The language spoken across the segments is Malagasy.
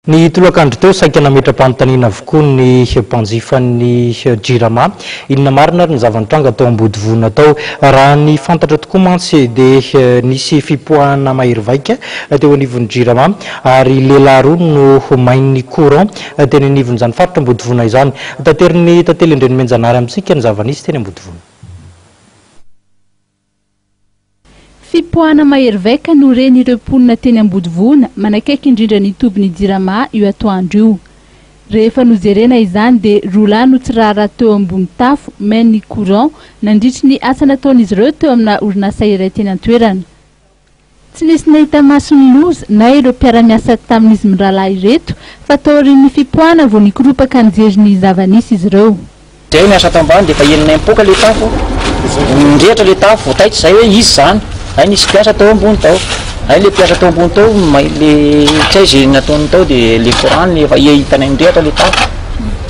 Ny tolakandro teo, saika nametra-panontaniana avokoa ny mpanjifan'ny Jirama. Inona marina ary ny zava-nitranga tao Ambodivona tao? Raha ny fantatra tokoa mantsy dia nisy fipoahana mahery vaika teo anivon'ny Jirama ary lehilahy roa no main'ny courant teny anivon'izany faritra Ambodivona izany. Taterin'ny Tantely Andrianomenjanahary amintsika ny zava-nisy teny Ambodivona. Fipoahana mahery vaika no ren'ireo mponina teny Ambodivona, manakaiky indrindra ny tobin'ny Jirama io atoandro io. Rehefa nojerena izany dia roa lahy no tsy raharaha teo ambony tafo main ny courant nandritry ny asa nataon'izy ireo teo amina orinasa iray teny an-toerana. Tsy nisy nahita maso ny loza na ireo mpiara-miasa tamin'izy mirahalahy ireto fa taorian'ny fipoahana vao nikoropaka nijery ny zava-nisy izy ireo. Zay niasa ato ambany de efa enina mipoaka le tafo, nirehitra le tafo vao taitra zay hoe iza zany, zay nisy mpiasa tao ambony tao, zay le mpiasa tao ambony tao may le tsy hay ze nataony tao de le courant le efa hitanay nirehitra le tafo.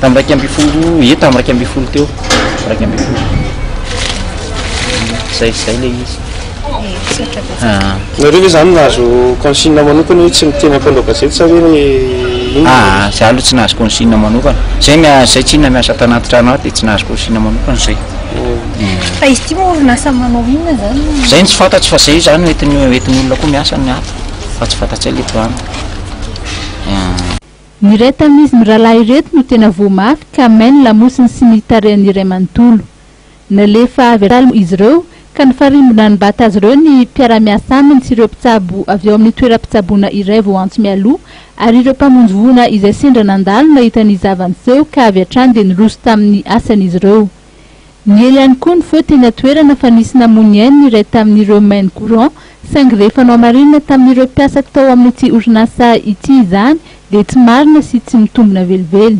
Tamin'ny iraika ambin'ny folo, ie tamin'ny iraika ambin'ny folo teo, iraika ambin'ny folo. Zay zay le izy. Ah. Nareo ve zany nahazo consigne manokana hoe tsy miteny ampanao gazety sa hoe inona? Ah, za aloha tsy nahazo consigne manokana. Zay mia- zay tsinona miasa tanaty trano ato dia tsy nahazo consigne manokana zay. Fa izy ity moa orinasa manao inona zany? Zay no tsy fantatro fa zay zany no entin'ny entin'ny olona koa miasa ny ato fa tsy fantatsay le trano. Ah. Ny iray tamin'izy mirahalahy ireto no tena voa mafy ka may ny lamosiny sy ny tarehiny iray manontolo. Nalefa avy an-trano izy ireo ka nifarimbona nibata azy ireo ny mpiara-miasa aminy sy ireo mpitsabo avy ao amin'ny toeram-pitsaboana iray vao antso mialoha ary ireo mpamonjy voina izay sendra nandalo nahita ny zava-niseho ka avy hatrany dia niroso tamin'ny asan'izy ireo. Niely ihany koa ny feo teny an-toerana fa nisy namono ny ainy ny iray tamin'ireo main courant saingy rehefa nohamarinina tamin'ireo mpiasak tao amin'ity orinasa ity izany dia tsy marina sy tsy mitombina velively.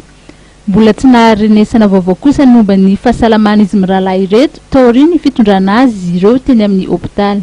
Mbola tsy nahary renesana vaovao kosa ny momba ny fahasalaman'izy mirahalahy ireto taorian'ny fitondrana azy ireo teny amin'ny hopitaly.